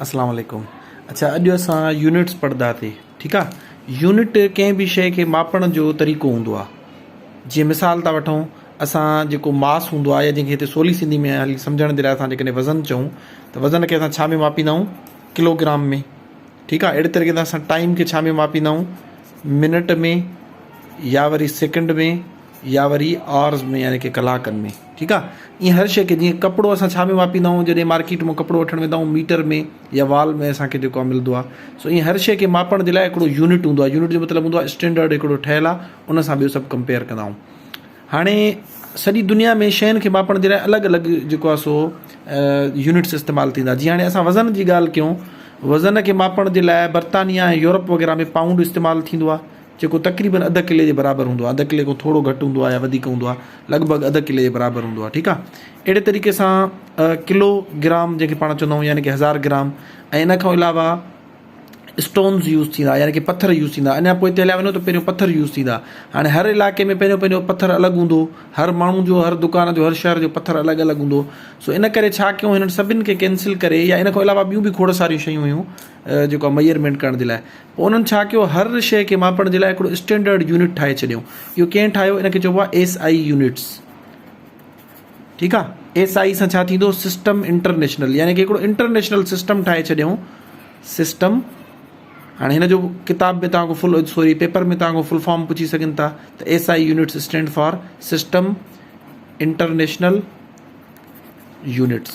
اسلام عليڪم اڇا اڄ اسان يونٽس پڙھدا ٿي ٺيڪ آ يونٽ ڪنھن به شئي کي ماپڻ جو طريقو ھوندو آ جيئن مثال ٿا وٺون اسان جيڪو ماس ھوندو آ يا جنھن کي ھتي سولي سنڌي ۾ ھلي سمجھڻ جي لاء اسان جيڪڏھن وزن چئون ته وزن کي اسان ڇا ۾ ماپيندا آھيون ڪلو گرام ۾ ٺيڪ آ اھڙي طريقي سان اسان ٽائيم کي ڇا ۾ ماپيندا آھيون منٽ ۾ يا وري سيڪنڊ ۾ يا وري آرز ۾ يعني ڪي ڪلاڪن ۾ ٺيڪ آ ايئن هر شئي کي جيئن ڪپڙو اسان ڇا ۾ ماپيندا آهيون جڏهن مارڪيٽ مان ڪپڙو وٺڻ ويندا آهيون ميٽر ۾ يا وال ۾ اسان کي جيڪو آ ملدو آ سو ايئن هر شئي کي ماپڻ جي لاء هڪڙو يونٽ هوندو آ يونٽ جو مطلب هوندو آ اسٽينڊرڊ هڪڙو ٺهيل آ ان سان ٻيو سڀ ڪمپيئر ڪندا آهيون هاڻي سڄي دنيا ۾ شين کي ماپڻ جي لاء الڳ الڳ جيڪو آ سو يونٽس استعمال ٿيندا جي هاڻي اسان وزن جي ڳالهه ڪيون وزن کي ماپڻ جي لاء برطانيا ۽ يورپ وغيره ۾ پائونڊ استعمال ٿيندو آ جيڪو تقريبن اڌ ڪلي جي برابر هوندو آهي، اڌ ڪلي کان ٿورو گهٽ هوندو آهي يا وڌيڪ هوندو آهي، لڳ ڀڳ اڌ ڪلي جي برابر هوندو آهي، ٺيڪ آهي. اهڙي طريقي سان ڪلو گرام جنهن کي پاڻ چوندا آهيون يعني ڪي هزار گرام ۽ ان کان علاوه اسٽونز يوز ٿيندا يعني ڪي پٿر يوز ٿيندا اڃا پوء هليا وڃو ته پهريون پٿر يوز ٿيندا هاڻي هر علائقي ۾ پنهنجو پنهنجو پٿر الڳ هوندو هر ماڻهو جو هر دڪان جو هر شهر جو پٿر الڳ الڳ هوندو سو ان ڪري ڇا ڪيون هنن سڀني کي ڪينسل ڪري يا ان کان علاوه ٻيون به کوڙ ساريون شيون هيون جيڪو ميئرمينٽ ڪرڻ جي لاء پوء انهن ڇا ڪيو هر شيء کي ماپڻ جي لاء هڪڙو اسٽينڊرڊ يونٽ ٺاهي ڇڏيو. اهو ڪنهن ٺاهيو؟ ان کي چئبو آهي ايس آئي يونٽس. ٺيڪ آهي. ايس آئي سان ڇا ٿيندو؟ سسٽم انٽرنيشنل يعني ڪي هڪڙو انٽرنيشنل سسٽم ٺاهي ڇڏيو. سسٽم هاڻي هن جو ڪتاب ۾ توهان کان فل سوري پيپر ۾ توهان کان فل فارم پڇي سگهن ٿا ته S I units stand for system international units.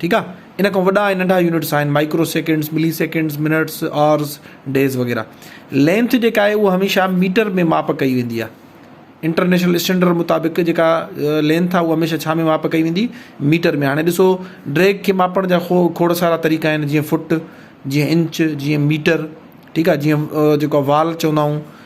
ٺيڪ آ ان کان وڏا ۽ ننڍا يونٽس آهن microseconds milliseconds minutes hours days وغيره لينٿ جيڪا آهي اها هميشه ميٽر ۾ ماپ ڪئي ويندي آ انٽرنيشنل اسٽينڊرڊ مطابق جيڪا لينٿ آ اها هميشه ڇا ۾ ماپ ڪئي ويندي ميٽر ۾ هاڻي ڏسو ڊريگ کي ماپڻ جا خو کوڙ سارا طريقا آهن جيئن فٽ جيئن انچ جيئن ميٽر ٺيڪ آ جيئن جيڪو وال چوندا آهيون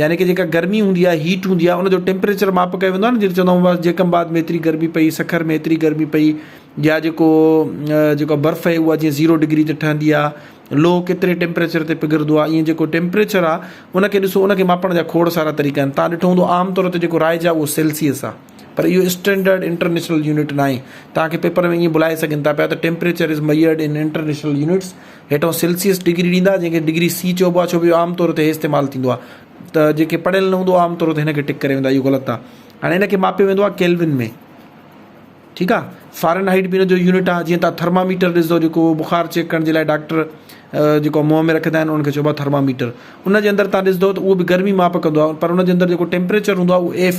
يعني ڪه جيڪا گرمي هوندي آهي هيٽ هوندي آهي ان جو ٽيمپريچر ماپ ڪيو ويندو آهي نه جيڪي چوندا آهيون جيڪم آباد ۾ ايتري گرمي پئي سکر ۾ ايتري گرمي پئي يا جيڪو جيڪو برف اهي اها جي زيرو ڊگري تي ٺهندي آهي لوهه ڪيتري ٽيمپريچر تي پگهرندو آهي ائين جيڪو ٽيمپريچر آهي ان کي ڏسو ان کي ماپڻ جا کوڙ سارا طريقا آهن تان ڏٺو هوندو عام طور تي جيڪو رائج آهي اهو سيلسيس آهي پر اهو اسٽينڊرڊ انٽرنيشنل يونٽ ناهي. توهان کي پيپر ۾ ائين بلائي سگهن ٿا پيا ته Temperature is measured in international units هيٺئون سيلسيس ڊگري ڏيندا جنهن کي ڊگري سي چئبو آهي ڇو جو عام طور تي هي استعمال ٿيندو آهي ته جيڪي پڙهيل نه هوندو عام طور تي هن کي ٽڪ ڪري ويندا اهو غلط آهي هاڻي هن کي ماپيو ويندو آهي ڪيلوين ۾ ٺيڪ آهي فارن هائيٽ به هن جو يونٽ آهي جيئن تان ٿرماميٽر ڏسندو جيڪو بخار چيڪ ڪرڻ جي لاء ڊاڪٽر جيڪو منهن ۾ رکندا آهن انهن کي چئبو آهي ٿرماميٽر ان جي اندر تان ڏسندو ته اهو به گرمي ماپ ڪندو آهي پر ان جي اندر جيڪو ٽيمپريچر هوندو آهي اهو F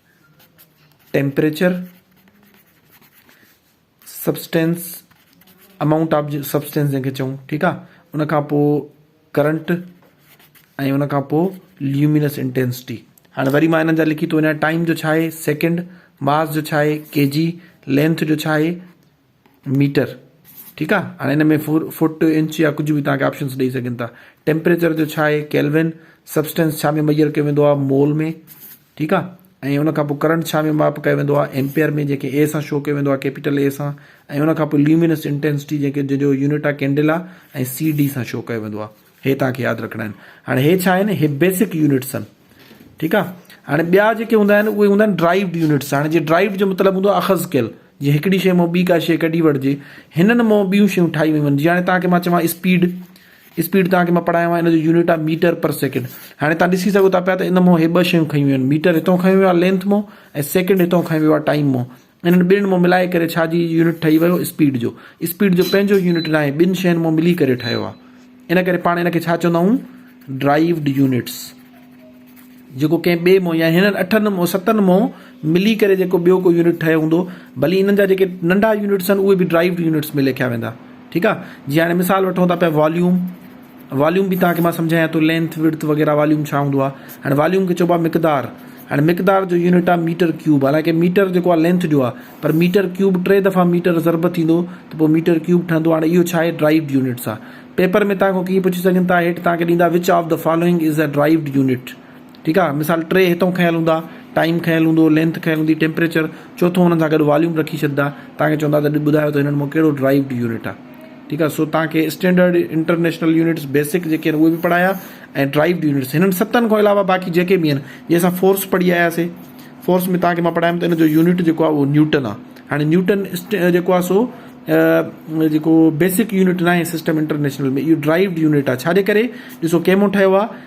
temperature, substance, amount of substance جنهن کي چئون ٺيڪ آ ان کان پوء ڪرنٽ ۽ ان کان پوء ليومينس انٽينسٽي هاڻي وري مانا هنن جا لکي ٿو وڃان ٽائيم جو ڇا آهي سيڪنڊ ماس جو ڇا آهي ڪي جي لينٿ جو ڇا آهي ميٽر ٺيڪ آ هاڻي هن ۾ فوٽ انچ يا ڪجهه به توهان کي آپشنس ڏئي سگهن ٿا ٽيمپريچر جو ڇا آهي ڪيلوين سبسٽنس ڇا ۾ ميجر ڪيو ويندو آهي مول ۾ ٺيڪ آ ۽ ان کان پوء ڪرنٽ ڇا ۾ ماپ ڪيو ويندو آهي ايمپيئر ۾ جنهن کي اي سان شو ڪيو ويندو آهي ڪيپيٽل اي سان ۽ ان کان پوء ليومينس انٽينسٽي جنهن کي جنهن جو يونٽ آهي ڪينڊلا ۽ سي ڊي سان شو ڪيو ويندو آهي هي توهان کي ياد رکڻا آهن هاڻي هي ڇا آهن هي بيسڪ يونٽس آهن ٺيڪ آهي هاڻي ٻيا جيڪي هوندا آهن اهي هوندا آهن ڊرائيوڊ يونٽس هاڻي جي ڊرائيوڊ جو مطلب هوندو آهي اخذ ڪيل جي هڪڙي شي مون ٻي ڪا شي ڪڍي وٺجي هنن مون ٻيون شيون ٺاهي ويون آهن جي هاڻي توهان کي مان چوان اسپيڊ اسپيڊ توهان کي مان پڙهايو آهي ان جو يونٽ آهي ميٽر پر سيڪنڊ هاڻي توهان ڏسي سگهو ٿا پيا ته ان مون هي ٻه شيون کيون ويون آهن ميٽر هتو کنيو ويو آهي لينٿ مون ۽ سيڪنڊ هتو کنيو ويو آهي ٽائيم مون انهن ٻنهن مون ملائي ڪري ڇا جي يونٽ ٺهي ويو اسپيڊ جو. اسپيڊ جو پنهنجو يونٽ ناهي ٻن شين مون ملي ڪري ٺهيو آهي. ان ڪري پاڻ ان کي ڇا چوندا آهيون ڊرائيوڊ يونٽس. جيڪو ڪنهن ٻئي مون يا هنن اٺن مون ستن مون ملي ڪري جيڪو ٻيو ڪو يونٽ ٺهيو هوندو ڀلي انهن جا جيڪي ننڍا يونٽس آهن اهي به ڊرائيوڊ يونٽس ۾ ليکيا ويندا ٺيڪ آهي. جي هاڻي مثال وٺون ٿا پيا واليوم. واليوم به توهان کي مان سمجهايان ٿو لينٿ وڊٿ وغيره واليوم ڇا هوندو آهي هاڻي واليوم کي چئبو آهي مقدار هاڻي مقدار جو يونٽ آهي ميٽر ڪيوب حالانڪه ميٽر جيڪو آهي لينٿ جو آهي پر ميٽر ڪيوب ٽي دفعا ميٽر ضرب ٿيندو ته پوء ميٽر ڪيوب ٺهندو هاڻي اهو ڇا آهي ڊرائيوڊ يونٽس آهي پيپر ۾ توهان کان ڪيئي پڇي سگهن ٿا هيٺ توهان کي ڏيندا which of the following is a derived unit ٺيڪ آ مثال ٽي هتئون کنيل هوندا ٽائيم کنيل هوندو لينٿ کنيل هوندي ٽيمپريچر چوٿون هنن سان گڏ واليوم رکي ڇڏدا توهان کي چوندا ته ٻڌايو ته هنن مان ڪهڙو ڊرائيوڊ يونٽ آ ٺيڪ آ سو توهان کي اسٽينڊرڊ انٽرنيشنل يونٽس بيسڪ جيڪي آهن اهي به پڙهايا ۽ ڊرائيوڊ يونٽس هنن ستن کان علاوه باقي جيڪي به آهن جي اسان فورس پڙهي آياسي فورس ۾ توهان کي مان پڙهايم ته ان جو يونٽ جيڪو آ اهو نيوٽن آ هاڻي نيوٽن جيڪو آ سو جيڪو بيسڪ يونٽ ناهي سسٽم انٽرنيشنل ۾ اهو ڊرائيوڊ يونٽ آ ڇاجي ڪري ڏسو ڪيمو ٺهيو آ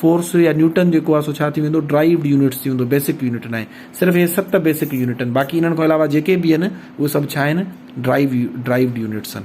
فورس يا نيوٽن جيڪو آهي سو ڇا ٿي ويندو ڊرائيوڊ يونٽس ٿي ويندو بيسڪ يونٽ ناهي صرف اهي ست بيسڪ يونٽ آهن باقي انهن کان علاوه جيڪي به آهن اهي سڀ ڇا آهن ڊرائيو ڊرائيوڊ يونٽس آهن.